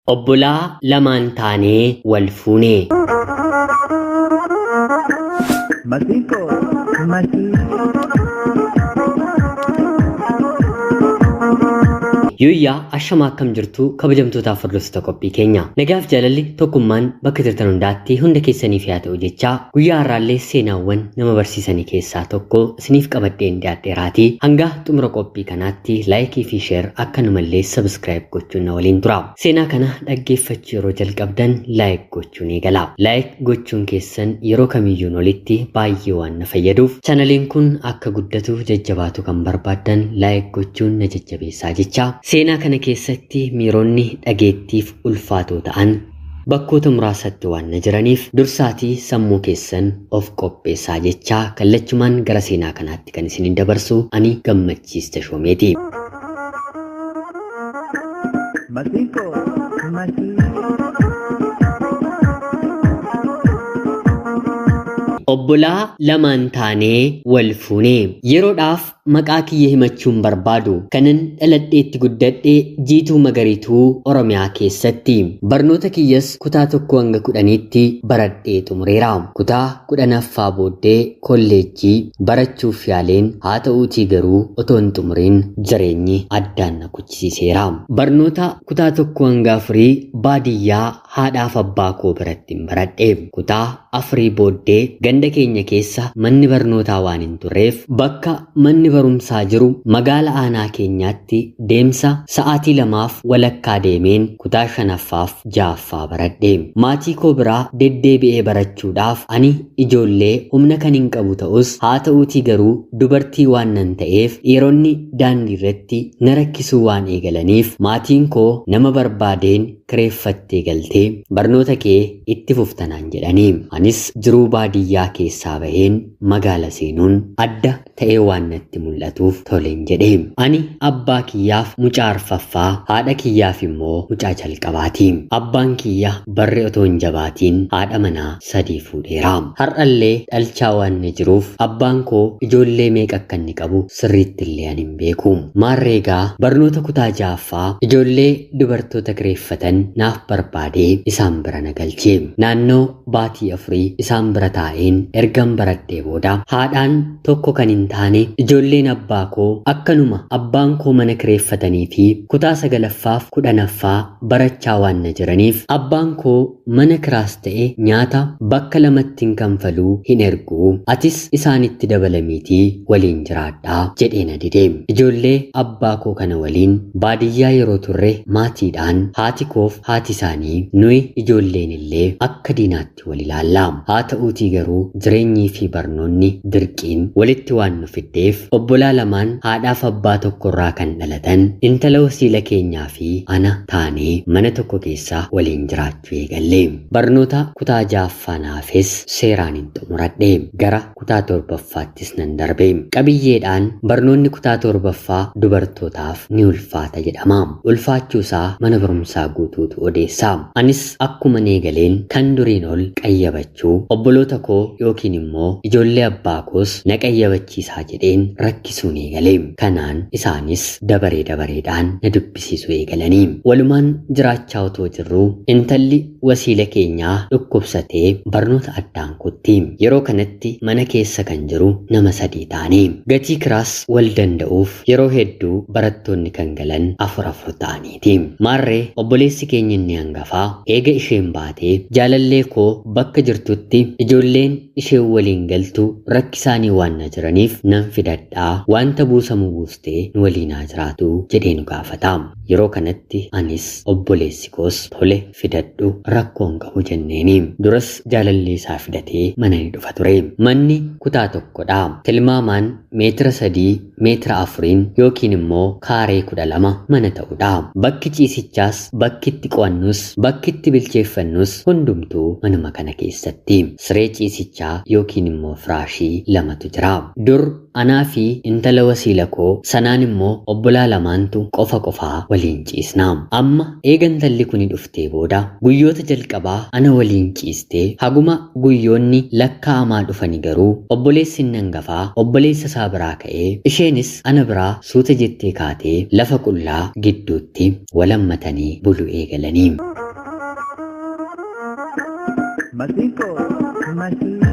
Obbolaa lamaan taanee wal fuune. Masiikoo masii. Yooyyaa ashamaa akkam jirtu kabajamtootaaf hordoftoota qophii keenya. Nagaaf jaalalli tokkummaan bakka jirtan hundaatti hunda keessaniif yaa ta'u jechaa guyyaa har'aallee seenaawwan nama barsiisanii keessaa tokko isiniif qabadheen dhiyaadheeraatii hanga xumura qophii kanaatti laayikii fi sheer akkanumallee sabiskiraayib gochuun na waliin tura. Seenaa kana dhaggeeffachuu yeroo jalqabdan laayik gochuun eegala. Laayik gochuun keessan yeroo kamiyyuun olitti baay'ee waan na fayyaduuf chanaliin kun akka guddatu jajjabaatu kan barbaaddan laayik gochuun na jajjabeessaa jecha. Seenaa kana keessatti miironni dhageettiif ulfaatoo ta'an Bakkoota muraasatti waan na jiraniif dursaatii sammuu keessan of qopheessaa jechaa kallachumaan gara seenaa kanaatti kan isinin dabarsu ani Gammachiis Tashoomeeti. Masiinqoo masii. Obbolaa lamaan taanee wal fuune. Yeroodhaaf Maqaa kiyya himachuu hin barbaadu. Kanan dhaladhee itti guddadhe Jiituu Magariituu Oromiyaa keessatti. Barnoota kiyyas kutaa tokkoo hanga kudhaniitti baradhee xumureera. Kutaa kudhanaffaa booddee kolleejjii barachuuf yaaleen haa ta'uutii garuu otoo hin xumuriin jireenyi addaan na kuchisiiseera. Barnoota kutaa tokkoo hanga afurii baadiyyaa haadhaaf abbaa koo birattin baradhe. Kutaa afurii booddee ganda keenya keessa manni barnootaa waan hin turreef bakka manni barumsaa jiru magaala aanaa keenyaatti deemsa sa'aatii lamaaf walakkaa deemeen kutaa shanaffaaf ja'affaa baradhe. Maatii koo bira deddeebi'ee barachuudhaaf ani ijoollee humna kanin qabu ta'us haata'uutii garuu dubartii waannan ta'eef dhiironni daandiirratti na rakkisuu waan eegalaniif maatiin koo nama barbaadeen kireeffattee galtee barnoota kee itti fufta naan jedhanii. Anis jiruu baadiyyaa keessaa baheen magaala seenuun adda ta'ee waan natti mul'atuuf toleen jedhe. Ani abbaa kiyyaaf mucaa arfaffaa, haadha kiyyaaf immoo mucaa jalqabaati. Abbaan kiyya barri otoo hin jabaatiin haadha manaa sadii fuudheera. Har'allee dhalchaa waan na jiruuf abbaan koo ijoollee meeqa akka inni qabu sirriitti illee ani hin beeku. Maarree egaa barnoota kutaa ja'affaa ijoollee dubartoota kireeffatan naaf barbaadee isaan bira na galche. Naannoo baatii afurii isaan bira taa'een ergan baradhee booda haadhaan tokko kan hin taane ijoolleen abbaa koo akkanuma abbaan koo mana kireeffatanii fi kutaa sagalaffaaf kudhanaffaa barachaa waan na jiraniif abbaan koo Mana kiraas ta'e nyaata bakka lamattin kanfalu hin ergu. Atis isaanitti dabalamiitii waliin jiraadha, jedhee na dide. Ijoollee abbaa koo kana waliin baadiyyaa yeroo turre maatiidhaan haati koof haati isaanii nuyi ijoolleen illee akka diinaatti wal ilaalla. Haa ta'uutii garuu jireenyii fi barnoonni dirqiin walitti waan nu fiddeef obbolaa lamaan haadhaaf abbaa tokkorraa kan dhalatan intala wasiila keenyaa fi ana taanee mana tokko keessa waliin jiraachuu eegalle. Barnoota kutaa ja'affaan hafes seeraanin xumuradhe. Gara kutaa torbaffaattis nan darbe. Qabiyyeedhaan barnoonni kutaa torbaffaa dubartootaaf ni ulfaata jedhama. Ulfaachuusaa mana barumsaa guutuutu odeessa. Anis akkuman eegaleen kan duriin ol qayyabachuu. gammachuu obboloota koo yookiin immoo ijoollee abbaa koos na qayyabachiisaa jedheen rakkisuun eegale. Kanaan isaanis dabaree dabareedhaan na dubbisiisuu eegalani. Walumaan jiraachaa otoo jirruu intalli wasiila keenyaa dhukkubsatee barnoota addaan kutti. Yeroo kanatti mana keessa kan jiru nama sadii taane. Gatii kiraas wal danda'uuf yeroo hedduu barattoonni kan galan afur afur ta'ani. iti. Maarree obboleessi keenya inni hangafaa eega isheen baatee jaalallee koo bakka jirtutti ijoolleen isheen waliin galtu rakkisaanii waan na jiraniif nan fidadha waanta buusamu buustee nu waliin haa jiraatu jedhee nu gaafata. Yeroo kanatti anis obboleessi koos tole fidadhu rakkoo hin qabu jenneeni. Duras jaalallee isaa fidatee mana ni dhufa ture. Manni kutaa tokkodha. Tilmaamaan meetira sadii meetira afuriin yookiin immoo kaaree kudha lama mana ta'udha. Bakki ciisichaas, bakki itti qo'annus, bakki itti bilcheeffannus hundumtuu manuma kana keessatti. Siree ciisichaa yookiin immoo firaashii lamatu jira. Dur Anaa fi intala wasiila koo sanaan immoo obbolaa lamaantu qofa qofaa waliin ciisna. Amma eega intalli kuni dhuftee booda guyyoota jalqabaa ana waliin ciistee haguma guyyoonni lakkaa'amaa dhufani garuu obboleessi inni angafaa obboleessa isaa biraa ka'ee isheenis ana biraa suuta jettee kaatee lafa qullaa gidduutti wal hammatanii bulu eegalani. Masiko, masiko.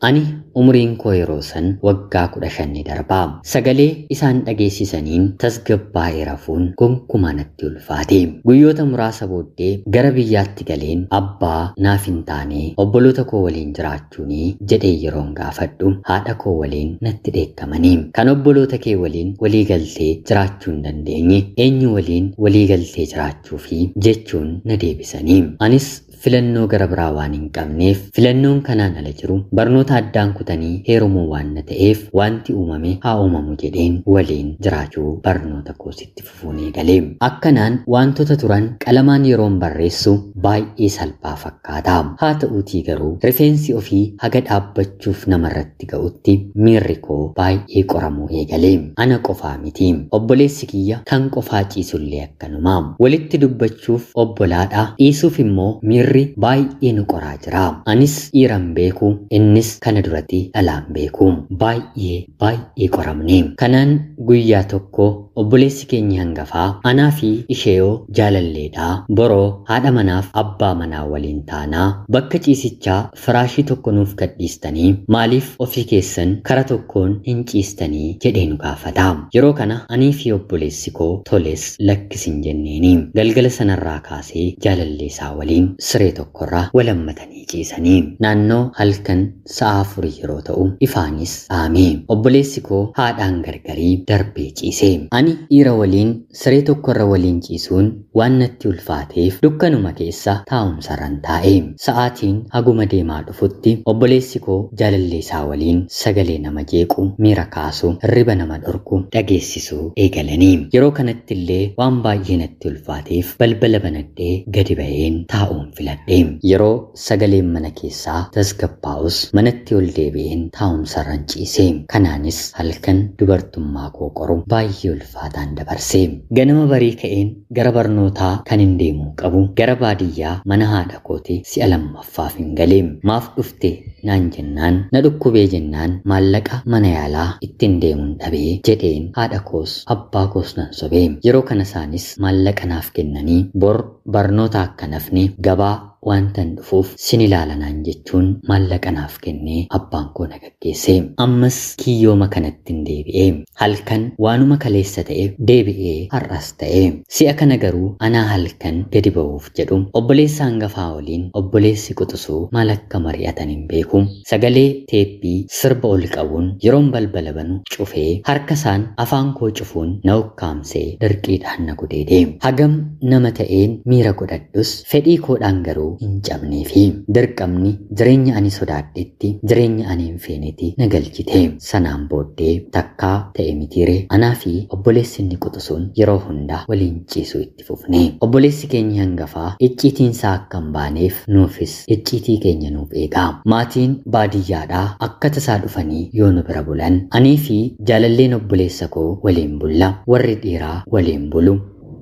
Ani umriin koo yeroo san waggaa kudha shan ni darba. Sagalee isaan dhageessisaniin tasgabbaa'ee rafuun gonkumaa natti ulfaate. Guyyoota muraasa booddee gara biyyaatti galeen abbaa naaf hin taane obboloota koo waliin jiraachuu jechuuni? jedhee yeroon gaafadhu haadha koo waliin natti dheekkamani. Kan obboloota kee waliin walii galtee jiraachuu hin dandeenye eenyu waliin walii galtee jiraachuufi? jechuun na deebisani. Anis filannoo gara biraa waan hin qabneef filannoon kanaan ala jiru barnoota addaan kutanii heerumuu waan na ta'eef waanti uumame haa uumamu jedheen waliin jiraachuu barnoota koos itti fufe. fuun eegale. Akkanaan waantota turan qalamaan yeroon barreessu baay'ee salphaa fakkaata. Haata'uutii garuu rifeensi ofii haga dhaabbachuuf namarratti ga'utti miirri koo baay'ee qoramuu eegale. Ana qofaa miti. Obboleessi kiyya kan qofaa ciisullee akkanuma. Walitti dubbachuuf obbolaadha, dhiisuuf immoo miirri baay'ee nu qoraa jira. Anis dhiiran beeku, innis kana durati dhalaan beeku. Baay'ee baay'ee qoramne. Kanaan guyyaa tokko Obboleessi keenyi hangafaa anaa fi isheyoo jaalalleedha. Boroo haadha manaaf abbaa manaa waliin taana. Bakka ciisichaa firaashii tokko nuuf gadhiistanii maaliif ofii keessan kara tokkoon hin ciistanii? jedhee nu gaafata. Yeroo kana anii fi obboleessi koo toles lakkis hin jenneeni. Galgala sanarraa kaasee jaalalleesaa waliin siree tokkorra wal hammatanii ciisani. Naannoo halkan sa'a afurii yeroo ta'u ifaanis dhaame. Obboleessi koo haadhaan gargarii darbee ciise. Ani dhiira waliin siree tokkorra waliin ciisuun waan natti ulfaateef dukkanuma keessa taa'umsarran taa'e. Sa'aatiin haguma deemaa dhufutti obboleessi koo jaalallee isaa waliin sagalee nama jeequ, miira kaasu, hirriba nama dhorku dhageessisuu eegalani. Yeroo kanatti illee waan baay'ee natti ulfaateef balbala banadhee gadi ba'een taa'uun filadhe. Yeroo Sagaleen mana keessaa tasgabbaa'us manatti ol deebi'een taa'umsarran ciise. Kanaanis halkan dubartummaa koo qoru baay'ee ulfaataan dabarse. Ganama barii ka'een gara barnootaa kanin deemuu qabu gara baadiyyaa mana haadha kooti si'a lammaffaafin gale. Maaf dhufte naan jennaan na dhukkubee jennaan maallaqa mana yaalaa ittin deemun dhabe jedheen haadha koos abbaa koos nan sobe. Yeroo kana isaanis maallaqa naaf kennanii bor barnoota akkan hafne gabaa Waantan dhufuuf sin ilaala naan jechuun maallaqa naaf kennee abbaan koo na gaggeesse. Ammas kiyyooma kanattin deebi'e. Halkan waanuma kaleessa ta'e deebi'ee har'as ta'e. Si'a kana garuu anaa halkan gadi ba'uuf jedhu. Obboleessa hangafaa waliin obboleessi quxusuu maal akka mari'atan hin beeku. Sagalee teeppii sirba oli qabuun yeroon balbala banu cufee harka isaan afaan koo cufuun na ukkaamsee dirqiidhaan na gudeede. Hagam nama ta'een miira godhadhus fedhii koodhaan garuu hin cabneefi. Dirqamni jireenya ani sodaadhetti jireenya ani hin feeneti na galchite. Sanaan booddee takkaa ta'e mitiiree anaa fi obboleessi inni quxusuun yeroo hunda waliin ciisu itti fufe. itti fufne. Obboleessi keenyi hangafaa icciitiinsaa akka hin baaneef nuufis icciitii keenya nuuf eega. Maatiin baadiyyaadhaa akka tasaa dhufanii yoo nu bira bulan aniifi jaalalleen obboleessa koo waliin bulla. Warri dhiiraa waliin bulu.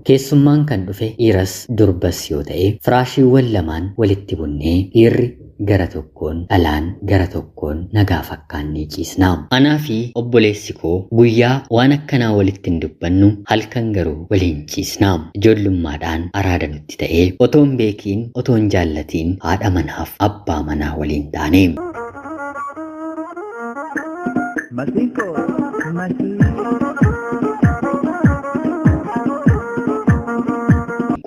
Keessummaan kan dhufe dhiiras durbas yoo ta'e firaashiiwwan lamaan walitti bunnee dhiirri, gara tokkoon dhalaan gara tokkoon nagaa fakkaannee ciisna. Anaa fi obboleessi koo guyyaa waan akkanaa walitti hin dubbannu, halkan garuu waliin ciisna. Ijoollummaadhaan araada nutti ta'e. Otoo hin beekiin, otoo hin jaallatiin haadha manaaf abbaa manaa waliin taane. Masiko, masiko.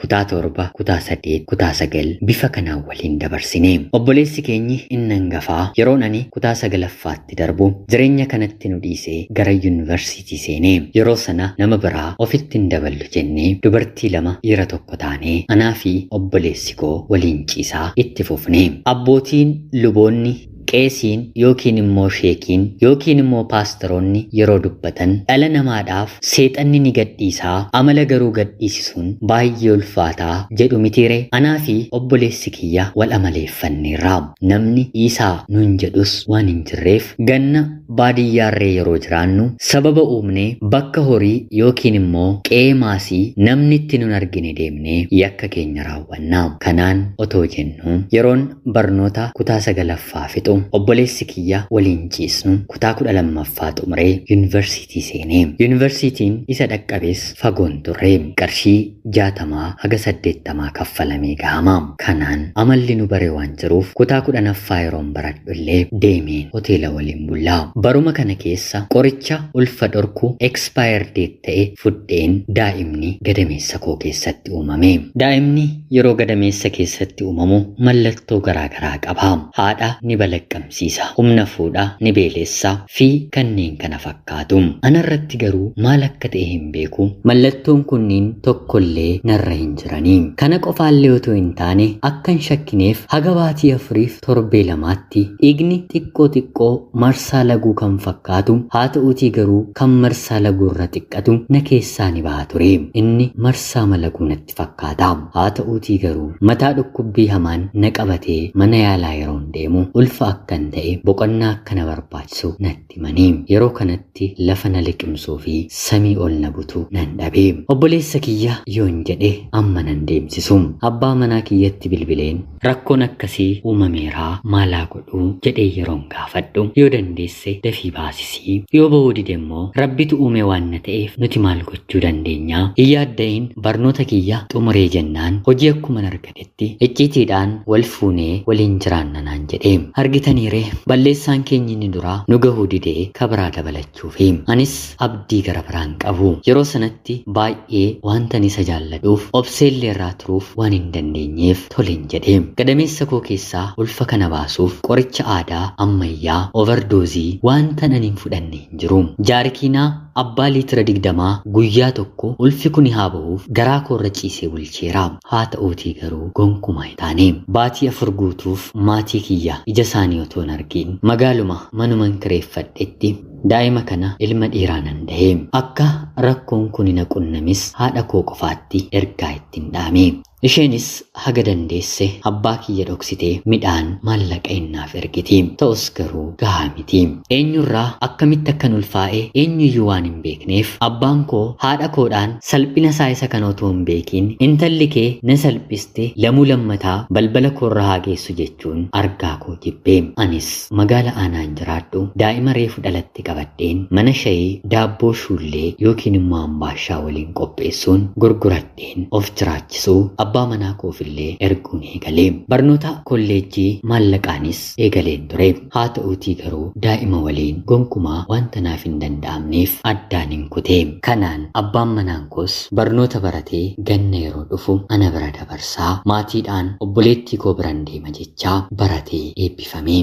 kutaa torba, kutaa saddeet, kutaa sagal bifa kanaan waliin dabarsine. Obboleessi keenyi inni hangafaa yeroon ani kutaa sagalaffaatti darbu jireenya kanatti nu dhiisee gara yuunivarsiitii seene. Yeroo sana nama biraa ofitti hin daballu jennee dubartii lama dhiira tokko taanee anaa fi obboleessi koo waliin ciisaa itti fufne. Abbootiin luboonni Qeesiin yookiin immoo sheekiin yookiin immoo paastaroonni yeroo dubbatan dhala namaadhaaf seexanni ni gadhiisa amala garuu gadhiisisuun baay'ee ulfaata jedhu mitiire? Anaa fi obboleessi kiyya wal amaleeffanneerra. Namni dhiisaa nuun jedhus waan hin jirreef ganna baadiyyaarree yeroo jiraannu sababa uumnee bakka horii yookiin immoo qe'ee maasii namni itti nun argine deemnee yakka keenya raawwanna. Hubannaa kanaan otoo jennuu yeroon barnoota kutaa 9ffaa fixu obboleessi kiyya waliin ciisnu kutaa 12ffaa xumuree yunivarsiitii seene. Yunivarsiitiin isa dhaqqabes fagoo hin turre. Qarshii 60 haga 80 kaffalamee gahama. Kanaan amalli nu bare waan jiruuf kutaa 10ffaa yeroon baradhu illee deemeen hoteela waliin bulla. Baruma kana keessa qoricha ulfa dhorku, expire date, ta'e fudheen daa'imni gadameessa koo keessatti uumame. Daa'imni yeroo gadameessa keessatti uumamu mallattoo garaa garaa qaba. Haadha ni balaqqamsiisa, humna fuudha, ni beelessa, fi kanneen kana fakkaatu. Ana irratti garuu maal akka ta'e hin beeku. Mallattoon kunniin tokko illee narra hin jirani. Kana qofaa illee otoo hin taane akkan shakkineef haga baatii afuriif torbee lamaatti dhiigni xiqqoo xiqqoo marsaa laguu kan fakkaatu haa ta'uutii garuu kan marsaa laguu irra xiqqatu na keessaa ni baha ture. Inni marsaama laguu natti fakkaata. Haa ta'uutii garuu mataa dhukkubbii hamaan na qabatee mana yaalaa yeroon deemu ulfa akkan ta'e boqonnaa akka na barbaachisu natti himani. Yeroo kanatti lafa na liqimsuu fi samii ol na butu nan dhabe. Obboleessa kiyya yoon jedhe amma nan deemsisu. Abbaa manaa kiyyatti bilbileen. Rakkoon akkasii uumameera maal haa godhu jedhee yeroon gaafadhu yoo dandeesse dafii baasisi yoo bahuu dide immoo rabbitu uume waan na ta'eef nuti maal gochuu dandeenya hin yaadda'in barnoota kiyya xumuree jennaan hojii akkuman argadhetti icciitiidhaan wal fuunee waliin jiraanna naan jedhe argitaniiree balleessaan keenyi inni duraa nu gahuu dide ka biraa dabalachuu jechuufi. Anis abdii gara biraa hin qabu. Yeroo sanatti baay'ee waantan isa jaalladhuuf obseellee irraa turuuf waan hin dandeenyeef toleen jedhe. Gadameessa koo keessaa ulfa kana baasuuf qoricha aadaa, ammayyaa, overdoozii waantan ani hin fudhanne hin jiru. Jaarikiinaa abbaa liitira digdamaa guyyaa tokko ulfi kuni haa bahuuf garaa koorra ciisee bulcheera. Haata'uutii garuu gonkumaa hin taane. Baatii afur guutuuf maatii kiyya ija isaanii otoon argiin magaaluma manuman kireeffadhetti daa'ima kana ilma dhiiraanan dahe. Akka rakkoon kuni na qunnames haadha koo qofaatti ergaa ittin dhaame. Isheenis haga dandeesse abbaa kiyya dhoksitee midhaan, maallaqa in naaf ergiti. Ta'us garuu gahaa miti. Eenyurraa akkamitti akkan ulfaa'e eenyuyyuu waan hin beekneef abbaan koo haadha koodhaan Salphina isaa isa kana utuu hin beekiin intalli kee na salphiste lamuu lammataa balbala koorra haa geessu jechuun argaa koo jibbe. Anis magaala aanaan jiraadhu daa'ima reefu dhalatte qabadheen mana shayii daabboo shuullee yookiin immoo ambaashaa waliin qopheessuun gurguradheen of jiraachisuu abbaa manaa koof illee erguun eegale. Barnoota kolleejjii maallaqaanis eegaleen ture. Haata'uutii garuu daa'ima waliin gonkumaa wanta naaf hin danda'amneef addaanin kute. Kanaan abbaan manaan koos barnoota baratee ganna yeroo dhufu ana bira dabarsa. Maatiidhaan obboleettii koo biran deema jechaa baratee eebbifame.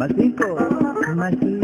Masiinqoo Masii.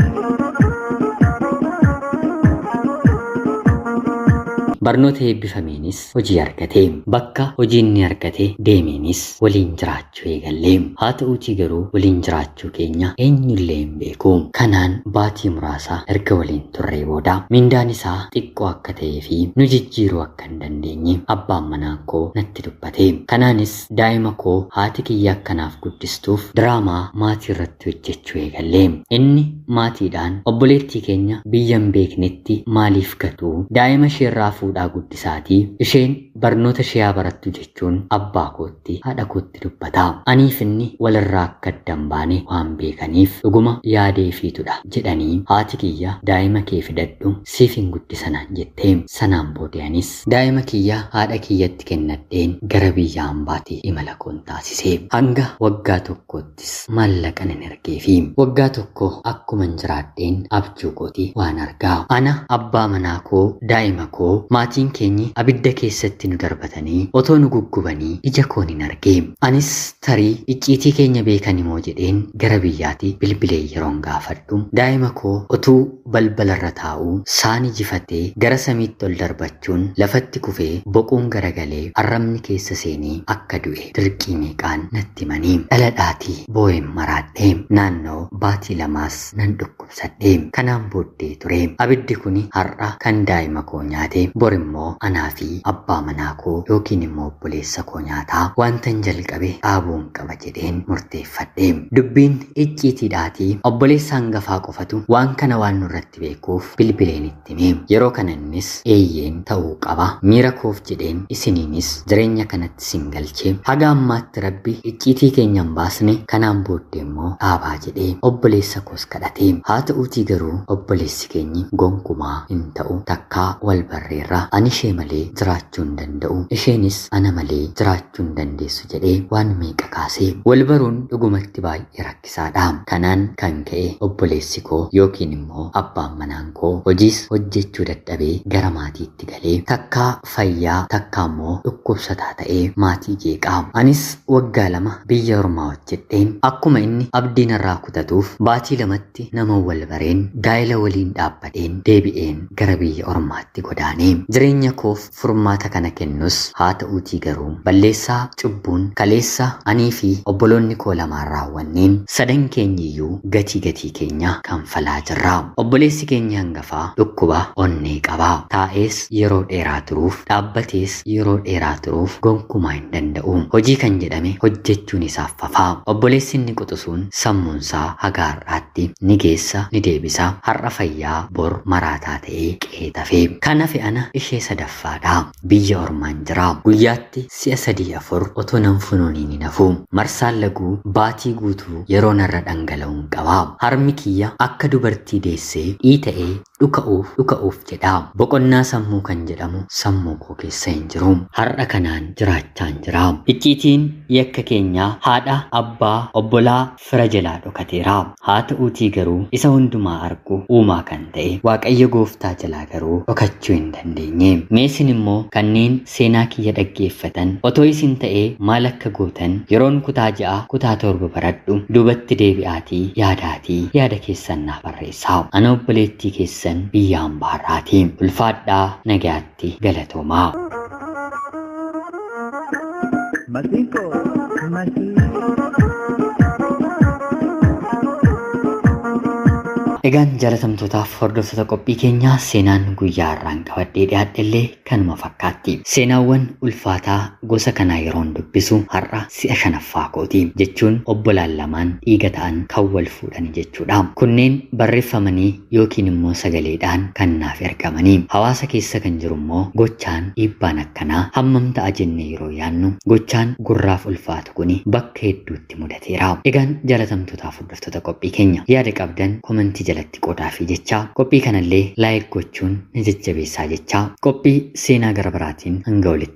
Barnoota eebbifameenis hojii argate. Bakka hojii inni argate deemeenis waliin jiraachuu eegalle. Haa ta'uutii garuu waliin jiraachuu keenya eenyullee hin beeku. Kanaan baatii muraasa erga waliin turree booda mindaan isaa xiqqoo akka ta'ee fi nu jijjiiruu akka hin dandeenye abbaan manaan koo natti dubbate. Kanaanis daa'ima koo haati kiyya akka naaf guddistuuf diraamaa maatii irratti hojjechuu eegalle. Inni maatiidhaan obboleettii keenya biyya hin beeknetti maaliif gatu? Daa'ima isheerraa fuudhaa guddisa. isaati. Isheen barnoota ishee haa barattu jechuun abbaa kootti, haadha kootti dubbata. Aniif inni wal irraa akka adda hin baane waan beekaniif, dhuguma yaada ifiitu dha jedhanii haati kiyya daa'ima kee fidadhu siifin guddisa naan jette. Sanaan boode anis. Daa'ima kiyya haadha kiyyatti kennadheen gara biyya ambaati imala koon taasise. Hanga waggaa tokkootti. Atis maallaqan hin ergeefi. Waggaa tokko akkuman jiraadheen abjuu kooti waan arga. Ana, abbaa manaa koo, daa'ima koo, maatiin keenyi abidda keessatti nu darbatanii otoo nu guggubanii ija koon hin arge. Anis tarii icciitii keenya beekanimoo jedheen gara biyyaati bilbilee yeroon gaafadhu daa'ima koo otuu balbalarra taa'uu saani jifatee gara samiitti ol darbachuun lafatti kufee boquun garagalee arrabni keessa seenee akka du'e. hidhe dirqii meeqaan natti himanii dhaladhaatii boo'een maraadhe naannoo baatii lamaas nan dhukkubsadhe kanaan booddee ture abiddi kuni har'a kan daa'ima koo nyaate bor immoo anaa fi abbaa manaa koo yookiin immoo obboleessa koo nyaata waantan jalqabe dhaabuun qaba jedheen murteeffadhe dubbiin icciitiidhaatii obboleessa hangafaa qofatu waan kana waan nurratti itti beekuuf bilbileen itti hime. Yeroo kana innis eeyyeen ta'uu qaba. Miira koof jedheen isiniinis jireenya kanatti isin galche. Haga ammaatti Rabbi icciitii keenya hin baasne kanaan booddee immoo dhaabaa jedhee obboleessa koos kadhate. Haa ta'uutii garuu obboleessi keenyi gonkumaa hin ta'u takkaa wal barreerra. Ani ishee malee jiraachuu hin danda'u. Isheenis ana malee jiraachuu hin dandeessu jedhee waan meeqa kaase. Wal baruun dhugumatti baay'ee rakkisaa dha. Kanaan kan ka'e obboleessi koo yookiin immoo abbaan manaan koo hojiis hojjechuu dadhabee gara maatiitti galee takkaa fayyaa takkaa immoo dhukkubsataa ta'ee maatii jeeqa. Anis waggaa lama biyya ormaa hojjedheen akkuma inni abdii narraa kutatuuf baatii lamatti naman wal bareen gaa'ela waliin dhaabbadheen deebi'een gara biyya ormaatti godaane. Jireenya koof furmaata kana kennus haata'uutii garuu balleessaa, cubbuun, kaleessa anii fi obboloonni koo lamaan raawwanneen sadan keenyi iyyuu gatii gatii keenya kanfalaa jirra. Obboleessi keenyi hangafaa dhukkuba onnee qaba. Taa'ees yeroo dheeraa turuuf, dhaabbatees yeroo dheeraa turuuf gonkumaa hin danda'u. Hojii kan jedhame hojjechuun isaaf fafa. Obboleessi inni quxusuun sammuunsaa haga har'aatti ni geessa ni deebisa. Har'a fayyaa bor maraataa ta'ee qe'ee. kee tafe. Kan hafe ana ishee sadaffaadha. Biyya ormaan jira. Guyyaatti si'a sadii afur otoo nan funuuniin hin hafu. Marsaan laguu baatii guutuu yeroo narra dhangala'uun qaba. Harmi kiyya akka dubartii deessee dhiita'ee dhuka'uuf dhuka'uuf jedha. Boqonnaa sammuu kan jedhamu sammuu koo keessa hin jiru. Har'a kanaan jiraachaan jira. Icciitiin yakka keenyaa haadha, abbaa, obbolaa, fira jalaa dhokateera. Haa ta'uutii garuu isa hundumaa argu uumaa kan ta'e Waaqayyo gooftaa jalaa garuu dhokachuu hin dandeenye. Mee isin immoo kanneen seenaa kiyya dhaggeeffatan otoo isin ta'ee maal akka gootan yeroon kutaa 6 kutaa 7 baradhu duubatti deebi'aatii yaadaatii yaada keessan naaf barreessaa. Ana obboleettii keessan biyya ambaa irraati. Ulfaadhaa nagayaatti. irratti galatoomaa. Masiko, masiko. Egaan jaalatamtootaaf hordoftoota qophii keenyaa seenaan guyyaa har'aan qabadhee dhiyaadhe illee kanuma fakkaatti. Seenaawwan ulfaataa gosa kanaa yeroon dubbisu har'a si'a shanaffaa kooti jechuun obbolaan lamaan dhiiga ta'an kan wal fuudhani jechuudha. Kunneen barreeffamanii yookiin immoo sagaleedhaan kan naaf ergamani. Hawaasa keessa kan jiru immoo gochaan dhiibbaan akkanaa hammam ta'a jennee yeroo yaannu gochaan gurraaf ulfaatu kuni bakka hedduutti mudateera. Egaan jaalatamtootaaf hordoftoota qophii keenya yaada qabdan komentii jalatti qoodaafii jechaa qophii kanallee like gochuun na jajjabeessaa jechaa qophii seenaa gara biraatiin hanga walitti